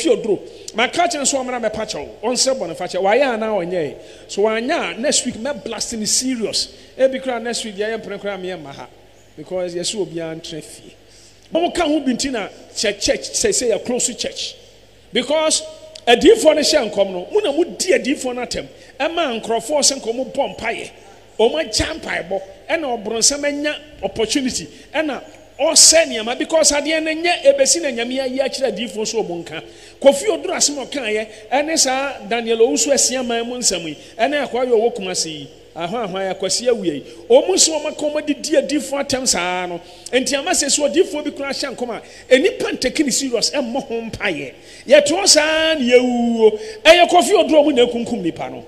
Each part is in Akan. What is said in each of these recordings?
Ofie oduro. Maka akyerɛ no sɛ ɔmmra mmɛpa kyɛw, ɔnsrɛ bɔnefakyɛ. Wayɛ anaa ɔnyɛe? So wanyɛ a, next week mɛ blast no serious. Ebi koraa next week deɛ ɛyɛ mpene koraa meɛ mma ha because yɛse obiara ntra fie. Mo ka ho bi nti na sɛ church sɛ sɛ yɛ close church because adiifoɔ no hyɛ nkɔm no mo na mo di adiifoɔ no atɛm ɛma nkorɔfoɔ sɛ nka ɔmo bɔ mpaeɛ Wɔn agyae mpaebɔ ɛna ɔbronsam anya opportunity ɛna ɔsɛe nneɛma because adeɛ no nyɛ ɛbɛsi na Nyame ayi akyerɛ adiyifoɔ nso wɔn nka. Kofi Oduro asem ɔkaeɛ ɛne saa Daniel Owusu asia man mu nsɛm yi ɛne akoa yi ɔwɔ Kumasi yi ahwan hwan Akwasi Awia yi wɔn nso wɔn aka wɔn adi di adiyifoɔ atɛm saa no nti ama sɛsi odiyifoɔ bi koraa ahyɛ nkɔm a nnipa ntake no serious mmɔ ho mpaeɛ yɛte hɔ saa na yɛwuwuo ɛyɛ Kofi Oduro mo na akunkum nnipa no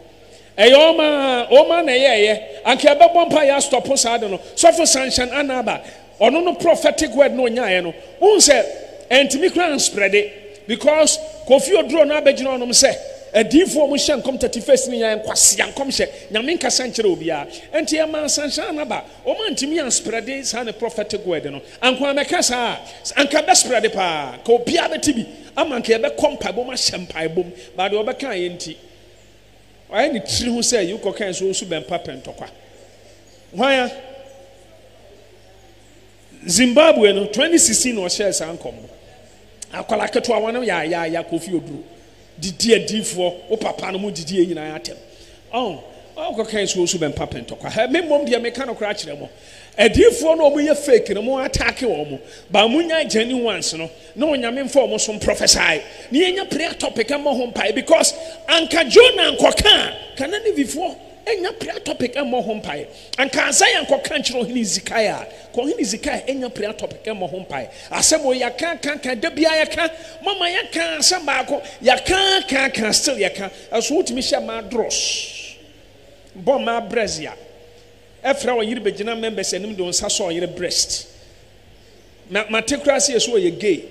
Ɛyɛ wɔn aa wɔn aa na ɛyɛɛyɛ anka yɛbɛbɔ mpaeɛ astɔpo saa ade no sɔfo Sanchan Anaba ɔno no prophetic word no ɔnyaaeɛ no wohu sɛ antumi koraa ansprɛde because Kofi Oduro no abɛgyina hɔnom sɛ adiyifoɔ a wɔn hyɛ nkɔm thirty first no nyinaa nkwasea nkɔmhyɛ Nyame nkasa nkyerɛ obiara ɛnti ɛmaa Sanchan Anaba wɔn antumi ansprɛde saa ne prophetic word no anko amɛka saa a anka bɛsprɛde paa anka obiara bɛte bi ama anka yɛbɛkɔ mpaebɔ mu ahyɛ mpaebɔ mu but deɛ ɔbɛkaeɛ nti Ɔayɛ ne tsir ho sɛ yewkɔ kɛn so osu bɛn pa pɛ ntɔkwa. Hwan a? Zimbabwe no, 2016 na ɔhyɛɛ saa nkɔmbɔ. Akwadaa ketewa wɔn no yaayaaya Kofi Oduro, didi adiifoɔ, wo papa no mu didi yɛ nyinaa atɛm. Ɔn, ɔkɔ kɛn so osu bɛn pa pɛ ntɔkwa. Hɛ, me mmom deɛ meka no koraa kyerɛ mo. Adiyifoɔ no a ɔmo yɛ fake no mo attack wɔn but mo nyae genuine ones no na onyame mfa ɔmo so mprɔfɛsae na yɛnya prayer topic mmɔ ho mpaeɛ because anka Jonah nkɔka a ka na Nivifoɔ nya prayer topic mmɔ ho mpaeɛ anka Isaiah nkɔka nkyerɛ ɔhene Hezekiah a ka ɔhene Hezekiah nya prayer topic mmɔ ho mpaeɛ asɛm o yɛaka ka ka da biara yɛka mama yɛka asɛm baako yɛaka ka ka still yɛka ɛso wotumi hyɛ ma adros bɔ ma brɛzia Ɛfra ɔyere bɛgyina members anim de wo nsa sɔ ɔyere breast. Na mate koraa sɛ yɛsɛ ɔyɛ gay.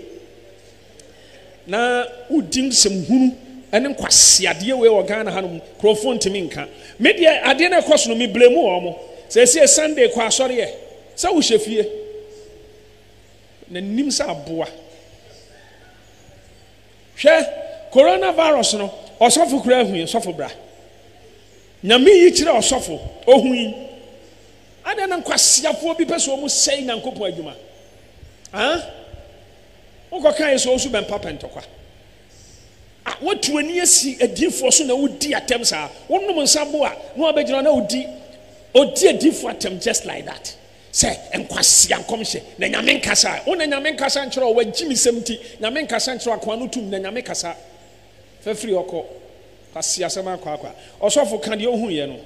Na wodi nsɛm hunu ɛne nkwaseadeɛ wei wɔ Ghana hanom kurɔfoɔ ntumi nka. Me deɛ adeɛ no ɛkɔ so no me blame wɔn. Sɛsie Sunday kɔ asɔreɛ sɛ wohyɛ fie. Na nim sɛ aboa. Hwɛ coronavirus no ɔsɔfo koraa hui sɔfo bra. Nyame yi kyerɛɛ ɔsɔfo, ohui. Adɛn na nkwaseafoɔ bi pɛ sɛ wɔn sɛe Nyankopɔn adwuma? Haa? Wokɔ kae sɛ wosu bɛmpa pɛ ntɔkwa. A, woatu ani asi adiifoɔ so na wodi atɛm saa. Wonom nsa bo a, na wabɛgyina na odi, odi adiifoɔ atɛm just like that. Sɛ nkwasea nkɔmhyɛ, na Nyame nkasa. Wo na Nyame nkasa nkyerɛ wo, w'agyimisɛm nti, Nyame nkasa nkyerɛ wo, akoa no tum, na Nyame kasa. Fafiri ɔkɔ. Kwasiasɛm akwaakwa. Ɔsɔfo ka deɛ ɔhu yɛ no.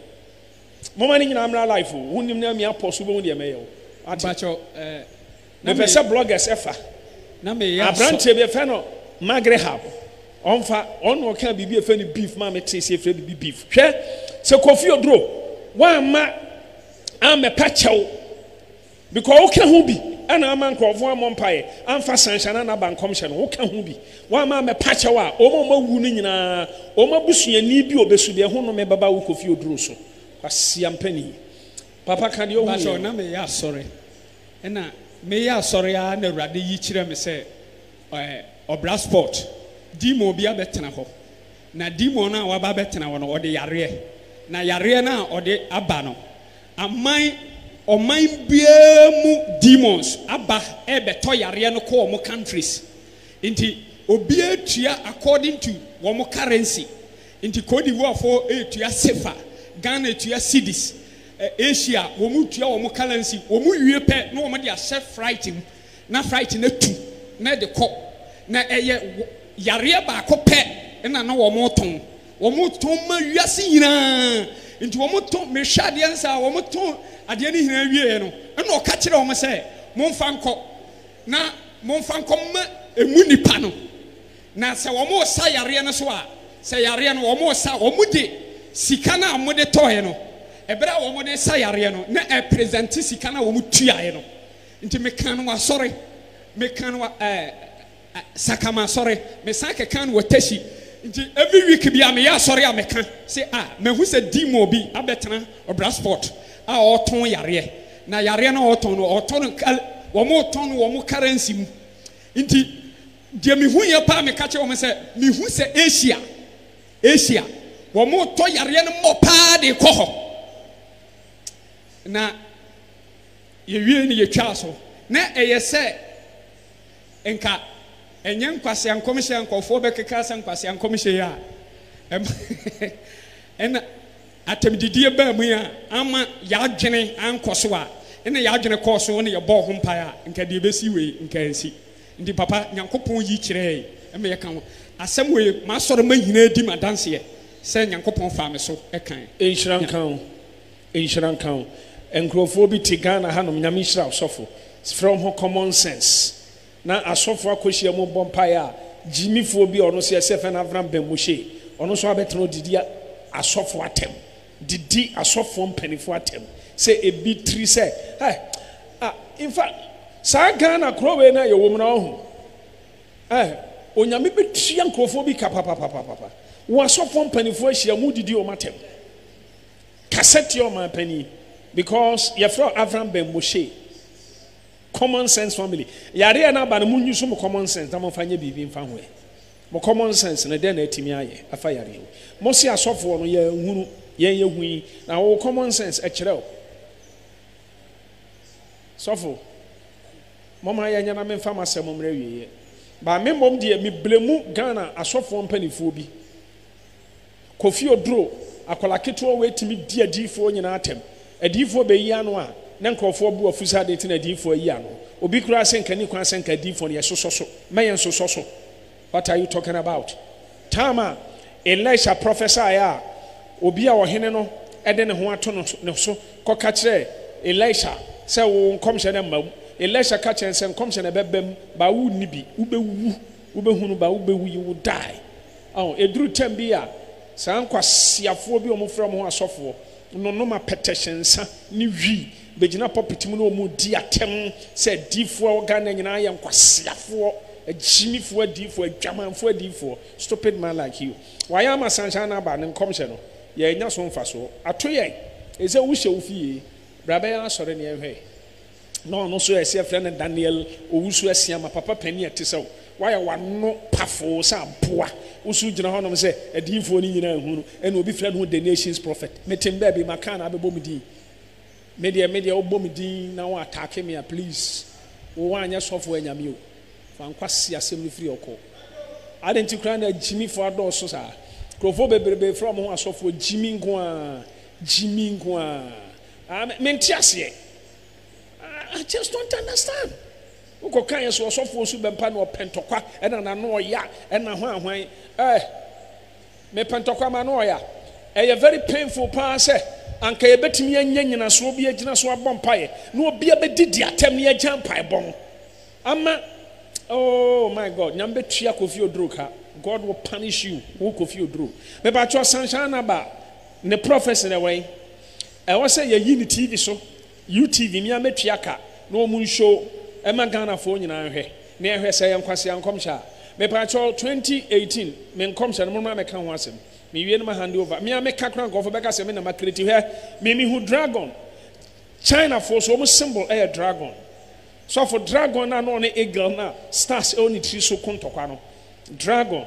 Moma ne nyinaa mmra live o. Wo nnim na me apɔs wo bɛhu deɛ mɛyɛ wo. Wate. Me pɛ sɛ bloggers ɛfa. Abranteɛ bi ɛfɛ no Magrehab ɔnfa. Ɔn na ɔkaa biribi ɛfɛ no beef maa me tee sɛ ɛfrɛ biribi beef. Hwɛ sɛ Kofi Oduro woamma ammɛpa kyɛw. Because woka ho bi na ama nkurɔfo ammɔ mpaeɛ amfa Sanhyɛ anaa Naba nkɔmhyɛ no, woka ho bi, woamma ammɛpa kyɛw a wɔn a wɔawu no nyinaa, wɔn abusuani bi a ɔbɛsu deɛ ɛho nnome bɛba wo Kofi Oduro so. Kwasiampani yi. Papa ka deɛ wohu yie no. Mpakyɛw na meyɛ asɔre ɛna meyɛ asɔre ara na Awurade yi kyerɛɛ me sɛ ɔbra spot demon bi abɛtena hɔ. Na demon no a waba abɛtena hɔ no, ɔde yareɛ, na yareɛ no a ɔde aba no, aman, ɔman biara mu demons aba rebɛtɔ yareɛ no kɔ wɔn countries. Nti obiara tua according to wɔn currency. Nti Cote d'Ivoire foɔ retua Sefa, Ghana retua Cedis, Asia wɔn retua wɔn currency, wɔn wie pɛ na wɔn de ahyɛ flight mu na flight no atu na ɛde kɔ na ɛyɛ yareɛ baako pɛ na na wɔn retɔn wɔn retɔn ma wiase nyinaa nti wɔn retɔn mehwɛ adeɛ no saa wɔn retɔn adeɛ no nyinaa wieɛ no ɛna ɔka kyerɛ wɔn sɛ momfa nkɔ na momfa nkɔ ma emu nipa no na sɛ wɔn resa yareɛ no so a sɛ yareɛ no wɔn resa wɔn de sika no a wɔn de tɔɔɛ no ɛbɛrɛ a wɔn de sa yareɛ no na ɛpresente sika no a wɔn tuaeɛ no Nti mekaa no wɔ asɔre, mekaa no wɔ ɛɛ ɛ Sakama asɔre, mesan kɛkaa no wɔ Teshie. Nti every week biara meyɛ asɔre a meka se a mahu sɛ demon bi abɛtena Ɔbrasport a ɔɔtɔn yareɛ. Na yareɛ no a ɔɔtɔn no ɔɔtɔn no kal wɔn retɔn no wɔn currency mu. Nti deɛ mehuiɛ paa meka kyerɛɛ wɔn sɛ mehu sɛ Asia Asia wɔn retɔ yareɛ no mmɔ paa de rekɔ hɔ. Na Yɛwiee no, yɛtwaa so. Ná ɛyɛ sɛ nka ɛnyɛ nkwasea nkɔmhyɛ a nkurɔfoɔ bɛkeka sɛ nkwasea nkɔmhyɛ yi a ɛma ɛna atɛmdidie baa mu yi a amma yɛadwene ankɔ so a ɛna yɛadwene kɔɔ so na yɛbɔɔ ho mpaeɛ a nka deɛ ɛbɛsi wei nka ansi. Nti papa, Nyankopɔn yi kyerɛɛ yɛn ma yɛka ho asɛm wei, m'asɔremma nyinaa di m'adanseɛ sɛ Nyankopɔn faa me so kae. Nhyira nka wo. Nhyira nka wo. Nkurɔfoɔ bi te Ghana hanom Nyame nhyira wo sɔfo. Frɛ wɔn ho common sense. Na asɔfoɔ akɔhyia mu bɔ mpaeɛ a gyimifoɔ bi a ɔno nso yɛsɛ fɛ no Avram Ben Moshe ɔno nso abɛtena ɔdidi asɔfoɔ atɛm didi asɔfoɔ mpanifoɔ atɛm sɛ ebi tiri sɛ eh ah infa saa Ghana korɔ wei no a yɛwɔ mu no ɔho eh Onyame bɛtua nkurɔfoɔ bi ka papapapapa wɔn asɔfoɔ mpanifoɔ ahyia mu didi wɔn atɛm Kasa tia ɔman panin because yɛfrɛ wo Avram Ben Moshe. Common sense family. Yareɛ no aba no mo use mo common sense na mo mfa nyɛ biribi mfa ho ɛ. Mo common sense no dɛn na atumi ayɛ afa yareɛ wei. Mo se asɔfoɔ no yɛ nhunu yɛn yɛ hu yi na wo common sense ɛkyerɛ wo. Sɔfo moma yɛ nyɛ na me mfa m'asɛm mmerɛ awieɛ. Ba me mmom deɛ me blemu Ghana asɔfoɔ mpanifoɔ bi. Kofi Oduro, akwadaa ketewa wei tumi di adiyifoɔ nyinaa atɛm. Adiyifoɔ bɛyi ano a, ne nkorɔfoɔ bo afu sɛ adeɛ nti na adiyifoɔ ayi ano. Obi koraa sɛ nka nni kwan sɛ nka adiyifoɔ no yɛsosɔ so. Mma yɛnsosɔ so. What are you talking about? Time a Elisha prophesied a, obi a ɔhene no de ne ho ato no so, ne so kɔka kyerɛɛ Elisha sɛ, Wo nkɔmhyɛ no mma mu. Elisha ka kyerɛɛ no sɛ, Nkɔmhyɛ na ɛbɛba mu, but wonni bi. Wobɛwu. Wobɛhunu ba wobɛwu yi wo dae. Ao, ɛduru tɛm bi a, saa nkwaseafoɔ bi a wɔfrɛ wɔn ho asɔfoɔ no nom apɛtɛhyɛ nsa ne wi, bɛgyina pulpit mu na wɔredi atɛm sɛ adiyifoɔ a ɛwɔ Ghana nyinaa yɛ nkwaseafoɔ, agyimifoɔ adiyifoɔ, adwamanfoɔ adiyifoɔ. Stupid man like you. Wayɛ ama Sunshine Abba ne nkɔmhyɛ no, yɛannya so mfasoɔ. Ato yɛn! Ɛsɛ sɛ wohyɛ wo fie. Bra bɛyɛ asɔre na yɛnhwɛ. na ɔno nso ɛsɛ yɛfrɛ no Daniel Owusu Asiamah, papa panin a ɛte sɛ wo, woayɛ w'ano pafoo sɛ aboa, wo so gyina hɔnom sɛ adiyifoɔ no nyinaa hu no, ɛna obi frɛ ne ho the nation's prophet, mete me baabi maka anaa bɛbɔ me din? Me deɛ, me deɛ wobɔ me din na wo attack me a please, wo woanyɛ sɔfoɔ anyame o, fa nkwasi asɛm no firi ɔkɔ. Adɛn nti koraa na gyimifoɔ adɔɔso saa? Nkurɔfoɔ bebrebe frɛ wɔn ho asɔfoɔ, gyimi nko ara, gyimi nko ara. Ah me mente aseɛ I just don't understand. Wokɔ kan yɛ so ɔsɔfoɔ su bɛmpa na ɔpɛ ntɔkwa ɛna n'ano ɔya ɛna hwan hwan eh mepɛ ntɔkwa m'ano ɔya ɛyɛ very painful paa sɛ anka yɛbɛtumi anya nyinasoɔ bi agyina so abɔ mpaeɛ na obi abɛdi di atɛm na yɛagya mpaebɔ no ama oh my God nyame bɛtua Kofi Oduro ka God will punish you wo Kofi Oduro mepakyɛ ɔsanhyɛ anaba Ne prophesy no ɛwɛn? Ɛwɔ sɛ yɛyi no TV so, UTV, me ara mɛtua ka na wɔn nhyoo ɛma Ghanafoɔ nyinaa nhwɛ na yɛhwɛ sɛ ɛyɛ nkwasea nkɔmhyɛ a. Mepakyɛw, 2018 me nkɔmhyɛ no mo mma mɛka ho asɛm, me wie no ma hande over. Me ara meka koraa nkorɔfoɔ bɛka sɛ me na ma create, hwɛ me me hu dragon, Chinafoɔ nso wɔn symbol ɛyɛ dragon. Sɔfo, dragon no a na ɔne eagle no a stars ɛwɔ ne tiri so ko ntɔkwa no, dragon.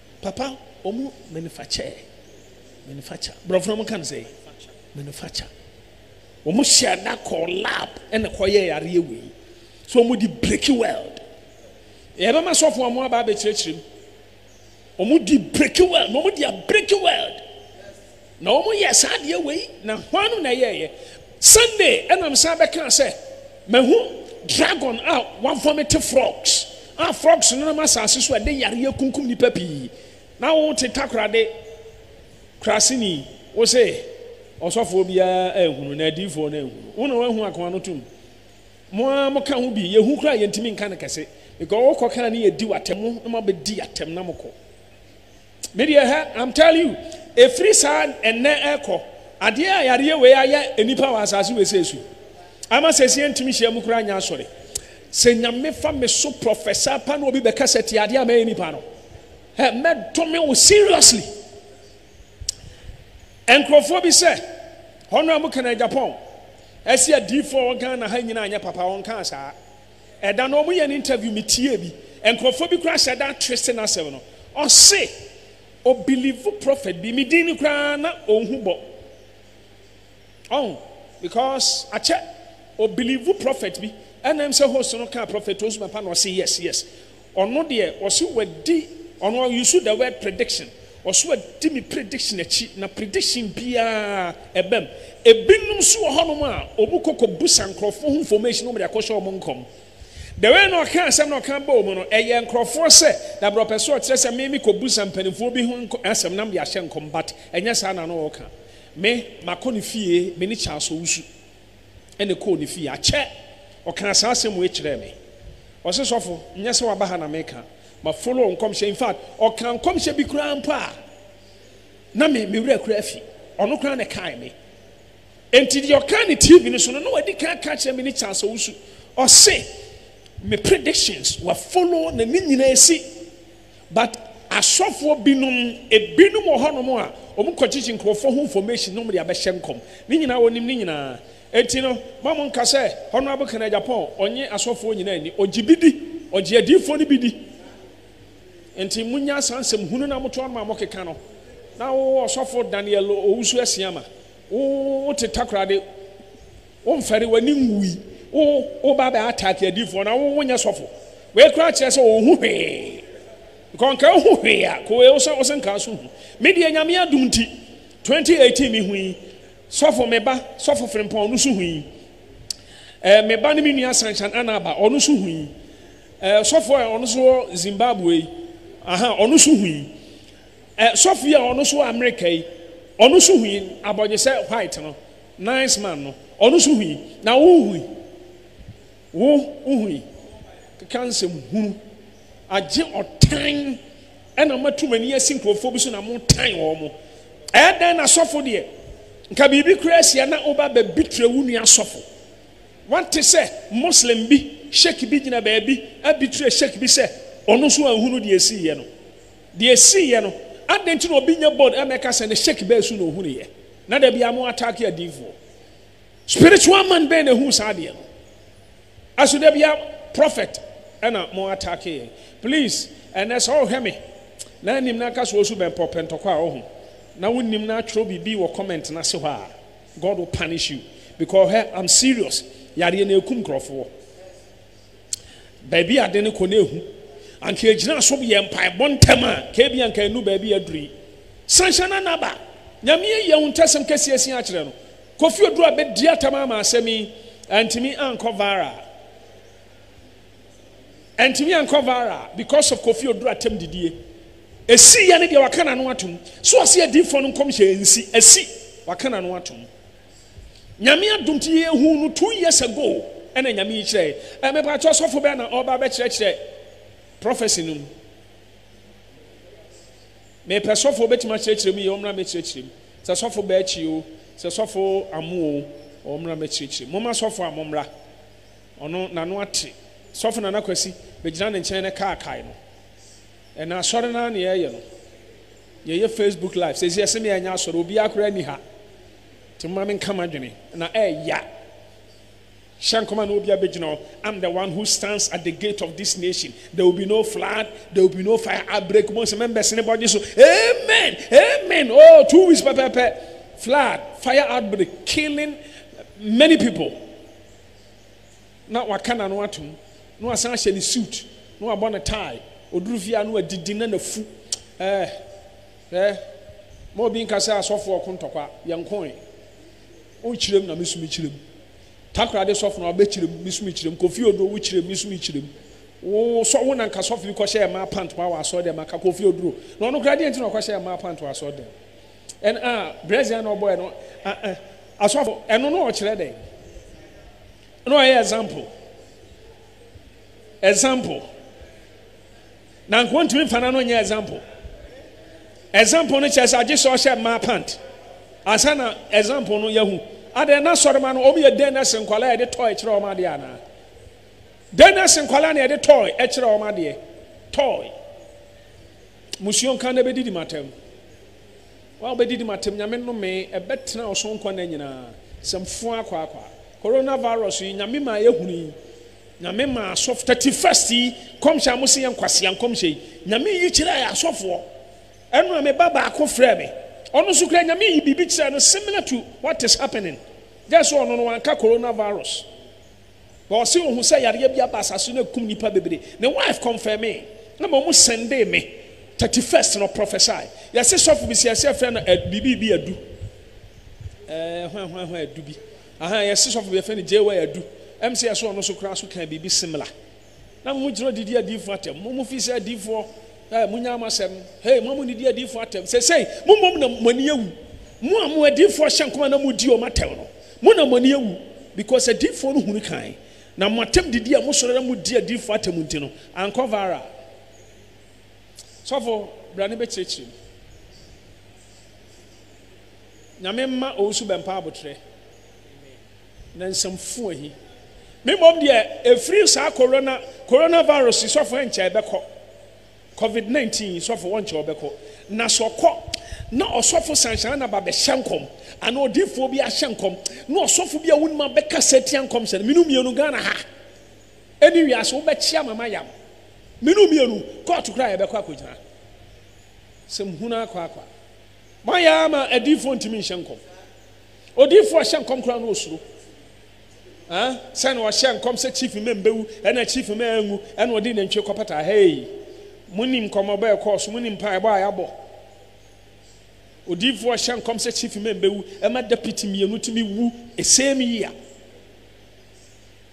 Papa, wɔn manufacture, manufacture, borɔfo no wɔka no sɛ manufacture. Wɔn hyɛ da kɔɔ lab ɛna kɔyɛɛ adeɛ wei. So wɔn di breki weld. Yɛbɛma sɔfo a wɔn aba abɛkyerɛkyerɛ mu. Wɔn di breki weld, wɔn di abreki weld. Na wɔn yɛɛ saa adeɛ wei, na hwan na ɛyɛɛyɛ? Sunday ɛna me san bɛkaa sɛ, mahu dragon a wa vomite frogs, a frogs no nam asase so a ɛde yareɛ kunkum nipa pii. Na wo te takorade kraseni, wo se ɔsɔfoɔ biara anhunu na adiifoɔ no anhunu. Wo na wahu ako ano tum. Mo ara mo ka ho bi, yɛhu koraa yɛntumi nka no kɛse, because wo kɔ kaa ne yɛdi wo atɛm, mo na mo abɛdi atɛm na mo kɔ. Me deɛ hɛ am telling you ɛfiri saa ɛnnɛ ɛkɔ adeɛ a yadeɛ wei ayɛ nnipa wɔ asase wesee so yi ama sɛsie ntumi hyia mu koraa nyɛ asɔre sɛ nyame fa me so professor pa na obi bɛkasa ti adeɛ a mɛyɛ nnipa no hɛ mɛdome wo seriously nkurɔfoɔ bi sɛ hɔno a mo kɛnɛ Japan ɛsi adiifoɔ wɔ Ghana ha nyina anyɛ papa wɔn kaa saa Ɛda no wɔyɛ no interview me tiee bi nkorɔfoɔ bi koraa hyɛ da twese nasɛm no ɔse ɔ believe prophet bi me din no koraa na ɔnhu bɔ ɔho because akyɛ ɔ believe prophet bi ɛna ɛm sɛ host no kaa prophet Osuma pa na ɔse yes yes Ɔno deɛ ɔse wadi ɔno you should the word prediction ɔse wadi me prediction akyi na prediction biaa ɛbam ebinom nso wɔ hɔ nom a ɔmu kɔ kɔ busa nkorɔfoɔ ho information na ɔmu de akɔ hyɛ ɔmo nkɔm the way na ɔka asɛm na ɔka bɔɔ mu no ɛyɛ nkorɔfoɔ sɛ dabra ɔpɛ sɛ ɔkyerɛ sɛ me me kɔ busa mpaninfoɔ bi ho asɛm na me de ahyɛ nkɔm but ɛnyɛ saa na na ɔka me makɔ ne fie me ne Charles Owusu. na ɛkɔɔ ne fie. Akyɛ, ɔkaa saa asɛm wei kyerɛɛ me. Ɔse, Sɔfo, nyɛ sɛ waba ha na meka, ma follow nkɔmhyɛ. In fact, ɔkaa nkɔmhyɛ bi koraa mpo a na me me werɛ koraa afi. Ɔno koraa na ɛkae me. Enti deɛ ɔkaa ne TV no so no, na wadi kan aka akyerɛ me ne Charles Owusu. Ɔse, Me predictions, wa follow na ne nyinaa asi. But asɔfoɔ binom ebinom wɔ hɔ nom a wɔn kɔ gyegye nkurɔfoɔ ho information na wɔn de abɛhyɛ nkɔm. Ne nyinaa wɔnim ne nyinaa. Enti no ma mo nka sɛ Honourable Ken Agyapong ɔnye asɔfoɔ nyinaa nni. Ɔgye bi di. Ɔgye adiyifoɔ no bi di. Enti mo nya saa nsɛm hunu no a mo to ano ma mo keka no. Na wo ɔsɔfo Daniel Owusu Asiamah wo wo te Takoradi. Wo nfɛre w'ani nwui. Wo wo ba bɛ attack adiifoɔ na wo wo nyɛ sɔfo. Wei koraa kyerɛ sɛ ɔnhu hwee. Nka ɔnka ɔhu hwee a ko wei wosɛ wose nka nso hu. Me deɛ Nyame adom nti 2018 me hui. Sɔfo me ba sɔfo Frimpong ɔno nso hui. Eh me ba ne me nua Sanchan Anaba ɔno nso hui. Eh sɔfo a ɔno nso wɔ Zimbabwe yi aha ɔno nso hui. Eh sɔfo yi a ɔno nso wɔ America yi ɔno nso hui abɔnyesɛ white no Nice man no, ɔno nso hui. Na wo hui? Wo, wohui? Keka nsɛm hunu. Agye ɔtan ɛna matu m'ani asi nkurɔfoɔ bi so na motan wɔn. Ɛyɛ dɛn na sɔfo deɛ, nka biribi koraa asi a na woba bɛbitre wo nua sɔfo. Woate sɛ Muslim bi, Sheik bi gyina baabi abitre Sheik bi sɛ ɔno nso anhunu deɛ ɛsiiɛ no? Deɛ ɛsiiɛ no, adɛn nti na obi nyɛ bold ɛmmɛka sɛ ne Sheik bɛɛ so na ɔhunuiɛ? Na da biara mo attack adiifoɔ. Spiritual man bɛn na ɛhuu saa adeɛ no? Aso da biara prophet ɛna mo attack yɛn? Please ɛnɛ sɛ ɔrehwɛ me na anim na nka sɛ ɔresu bɛmpɛ ɔpɛ ntɔkwa a ɔho na wonnim na atwerɛ biribi wɔ comment no ase hɔ a God will punish you because hwɛ I'm serious yareɛ no ɛkum nkurɔfoɔ. baabi a ade no kɔ na ehu. Anka egyina so yɛ mpaebɔ ntɛm a, anka ebia anka ennu baabi a aduru yi. San hyɛ no na ba. Nyame ayi ahuntasɛm kɛse asi akyerɛ no. Kofi Oduro abedi atam ama asɛm yi. Antumi ankɔ viral. Antumi ankɔ viral because of Kofi Oduro atam didie. Esi yɛ ne deɛ waka n'ano atom. So ɔse adiifoɔ no nkɔmhyɛ nsi. Asi. Waka n'ano atom. Nyame adom nti yɛhu no two years ago ɛna Nyame yi kyerɛɛ yɛn. Mepakyɛ ɔsɔfo bɛn na ɔreba abɛkyerɛkyerɛ prophecy no mu? Mepɛ sɔfo obɛtumi akyerɛkyerɛ mu yie ɔmmra mɛkyerɛkyerɛ mu. Sɛ sɔfo Bɛɛkyi o, sɛ sɔfo Amu o, ɔmmra mɛkyerɛkyerɛ mu. Momma sɔfo Amu mmra, ɔno n'ano ate. Sɔfo Nana Kwasi, bɛgyina ne nkyɛn ne kaakae no. Ɛnna asɔre no ara na yɛreyɛ no. Yɛyɛ Facebook live sɛsi yɛse me ɛnyɛ asɔre obiaa koraa nni ha nti momma menka m'adwene na ɛɛya hyɛ nkɔm a na obiaa bɛgyina hɔ I'm the one who stands at the gate of this nation there will be no flood there will be no fire outbreak mo sɛ membɛsene bɔgye so amen amen oh two weeks pɛpɛpɛ flood fire outbreak killing many people na waka n'ano atom, na wasan ahyɛ ne suit, na wabɔ ne tie, ɔduru fie a na wadidi na n'afu eh, hwɛ, ma obi nka sɛ asɔfo ɔko ntɔkwa, yɛn nko eh, wokyerem na me nso mekyerem, Takoradi sɔfo na wabɛkyerem, me nso mekyerem, Kofi Oduro wokyerem, me nso mekyerem, wo sɔ wo na nka sɔfo bi kɔhyɛɛ mmaa pant ma wɔ asɔre dɛm anka Kofi Oduro, na ɔno koraa deɛ nti na ɔkɔhyɛɛ mmaa pant wɔ asɔre dɛm, ɛn ah, brɛs yɛn na ɔbɔɛ no ah eh, asɔfo, ɛno na ɔkyerɛ dɛn? Na ɔyɛ example example na nka ɔntumi nfa n'ano nyɛ example example no kyerɛ sɛ agye sɛ ɔhyɛ mmaa pant ansa na example no yɛhu adeɛ na sɔrema no wɔn yɛ dɛn na se nkwadaa yɛde tɔɔ ɛkyerɛ wɔn adeɛ anaa dɛn na se nkwadaa na yɛde tɔɔ ɛkyerɛ wɔn adeɛ tɔɔ musuo nka na ɛbɛdidi matam Wɔn a wɔbɛdidi m'atɛm Nyame nnome ɛbɛtena ɔsoro nkwa nna nyinaa Sɛm foaa kwaakwaa Corona virus yi Nyame maa yɛ hunu yi Nyame maa asɔf Thirty first yi nkɔmhyɛ a mo se yɛ nkwasea nkɔmhyɛ yi Nyame yi kyerɛɛ asɔfoɔ Ɛno a me ba baako frɛɛ me ɔno nso koraa Nyame yi biribi kyerɛɛ no similar to what is happening just sɛ ɔno no wanka Corona virus Na ɔse ohu sɛ yareɛ bi aba asase so na ɛkum nipa bebree. Ne wife confirmee na mmom ɔmo sendee me thirty first no prophesy. Yɛse sɔfo bi se yɛse yɛfrɛ no ɛ biribi bi adu ɛɛ hwan hwan hwan adu bi ahaa yɛse sɔfo bi yɛfrɛ no JY adu. Ɛm se yɛse ɔno nso koraa nso kaa biribi similar. Na mo munkyerɛ didi adiyifo atɛm, mo a mufi sɛ adiyifo ɛ, munnyae mo asɛm. Hei, mo a munnidi adiyifo atɛm, seesei mo mmom na mo ani awu. Mo a mo adiyifo ahyɛ nkɔm na mudi wɔn atɛm no, mo na mo ani awu, because adiyifo no hunu kan, na mo atɛm didi a mosɔre na mudi adiyifo atɛm nti no, ankɔ viral. Sɔfo, bra ne bɛkyerɛkyerɛ mu. Nyame mma owusu bɛmpa aboterɛ. Ne nsɛm fua yi. Me mmom deɛ ɛfiri saa corona corona virus yi sɔfo ɛnkyɛ ɛbɛkɔ. Covid 19 yi sɔfo wɔnkyɛ ɔbɛkɔ. Na sɛ ɔkɔ na ɔsɔfo sanhyɛn na ba bɛhyɛ nkɔm anaa odiifoɔ bi ahyɛ nkɔm na ɔsɔfo bi a wonim abɛkasa atia nkɔmhyɛ no. Menu mmienu Ghana ha ɛne wiase wobɛkyea ma mayam. Menu mmienu kɔɔto koraa yɛbɛkɔ akɔgyina. Sɛm hunu akwaakwa. Moayɛ ama adiifoɔ ntumi nhyɛ nkɔm. Odiyifo a ɔhyɛ nkɔm koraa no osuro eh sɛ na ɔhyɛ nkɔm sɛ chief mma mbewu ɛna chief mma anwu ɛna ɔde nantwie kɔpata hey monim nkɔmɔbɔ a ɛkɔɔ so monim mpaebɔ a yɛabɔ odiyifo a ɔhyɛ nkɔm sɛ chief mma mbewu ɛma deputy mmienu tumi wu same year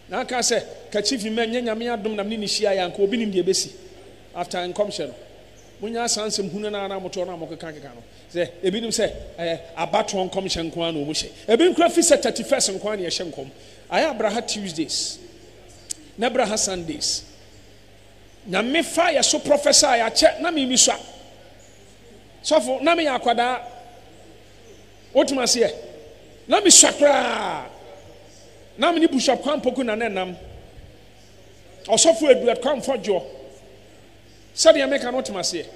na aka sɛ ka chief mma nyɛ nyame adom na mene ne hyia yɛ anka obi nim deɛ ɛbɛsi after nkɔmhyɛ no monya asansɛm hunu no a na motoɔ no a mokeka keka no Sɛ, ebinom sɛ, ɛyɛ abatoɔ nkɔmhyɛ nko ara na wɔn hyɛ. Ebinom koraa fi sɛ thirty first nko ara na yɛhyɛ nkɔm. Ayɛ abraha Tuesdays ne abraha Sundays. Nyame fa yɛ so prophesy akyɛ na me misua. Sɔfo, na me yɛ akwadaa. Wote me aseɛ? Na me sua koraa. Na me ne Bishop Kwampoku na ne nam. Ɔsɔfo Eduard Kwamfɔdwoɔ. Sɛdeɛ meka no wote me aseɛ?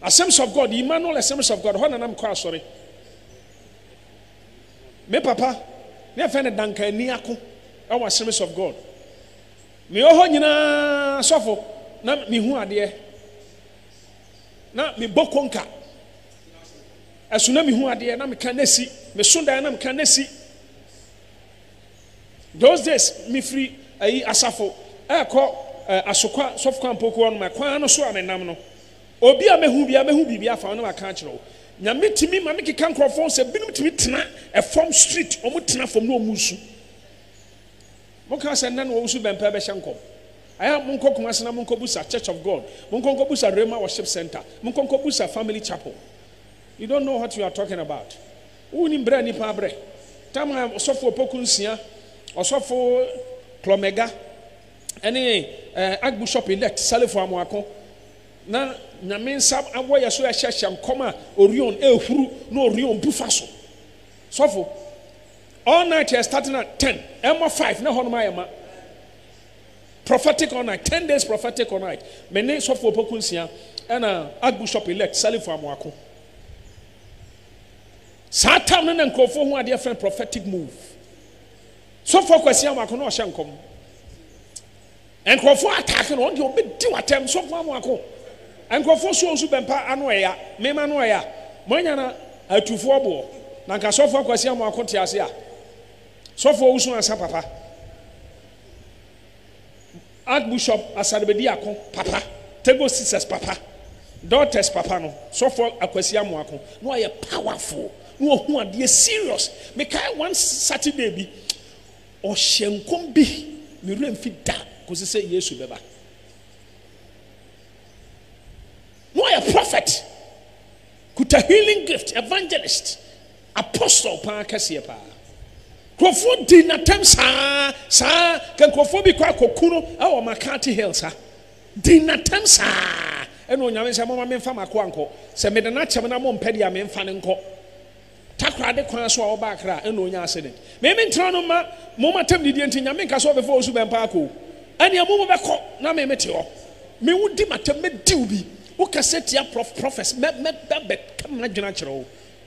Assembles of God, Emmanuel Assembles of God, hɔ na na mekɔ asɔre. Me papa, ne yɛfrɛ no Duncan Aniako, ɛwɔ Assemblies of God. Mewɔ hɔ nyinaa sɔfo, na mehu adeɛ. Na mebɔ konka. Ɛso na mehu adeɛ, na meka na si. Meso dan na meka na si. Those days, mefiri ayi asafo ɛkɔ eh, asokwa sɔfo kwampoko hɔ no, ma kwan no so a menam no. Obi a mɛhu biara bɛhu biribi afa wo na waka akyerɛ wo. Nyame tumi ma me keka nkorɔfoɔ ho sɛ binom tumi tena ɛfam street wɔn tena fam na wɔn resu. Mo ka sɛ nna na wɔresu bɛn paa bɛhyɛ nkɔm. Ayɛ a monkɔ Kumasi na monkɔ busa church of God, monkɔ nkɔ busa Rhema worship center, monkɔ nkɔ busa family chapel. You don't know what you are talking about. Wo nim brɛ a nipa abrɛ. Time a ɔsɔfo opoku nsia, ɔsɔfo klɔmɛga. ɛne eh, Archbishop elect Salefo Amoako, na Nyame nsa awɔ yɛ so ɛhyɛhyɛ nkɔm a Orion ehuru na Orion bu fa so. Sɔfo, all night yɛ start na 10, ɛmɔ 5 na hɔnom ayɛ ma. Prophetic all night, 10 days prophetic all night. Me ne Sɔfo Opoku Nsia ɛna Archbishop elect Salefo Amoako. Saa tam no na nkurɔfoɔ ho adeɛ fɛn prophetic move. Sɔfoɔ Kwasi Amoako na ɔhyɛ nkɔm. Nkurɔfoɔ attack no, ɔno deɛ ɔbɛdi wo atɛm, Sɔfoɔ Amoako. Nkurɔfoɔ so wɔn so bɛmpa ano ɛya, meme ano ɛya. Moanya na atufoɔ boɔ, na nka Sɔfoɔ Kwasi Amoako te ase a. Sɔfoɔ wo su ansa papa. Archbushop Asarbedi Ako papa, Tego Sisters papa, Daughters papa no, Sɔfo Akwasi Amoah Ako, na ɔyɛ powerful, na ɔhu adeɛ serious. Mekae one Saturday bi, ɔhyɛɛ nkɔm bi, me werɛ mfi da kɔsi sɛ Yesu bɛba. Na ɔyɛ prophet, kuta healing gift, evangelist. Apostle paa kɛseɛ paa. Nkurɔfoɔ dii no atɛm saa saa ka nkurɔfoɔ bi kɔ akɔku no wɔ McCarthy Hill sa dii no atɛm saa ɛna onyame sɛ moma memfa makoa nkɔ sɛ mede no akyɛm na mompɛ deɛ a memfa no nkɔ Takorade kwan so a ɔba Accra ɛna onya accident me mentra no mma mo matam didie nti nyame nka sɛ ɔbɛfa ɔsu bɛn paa kɔ ɛnea mo mobɛkɔ na me mete hɔ me wo di matam mɛdiw bi wokasɛ tia prof profes mɛ mɛ bɛbɛ ka m'adwene akyerɛ wo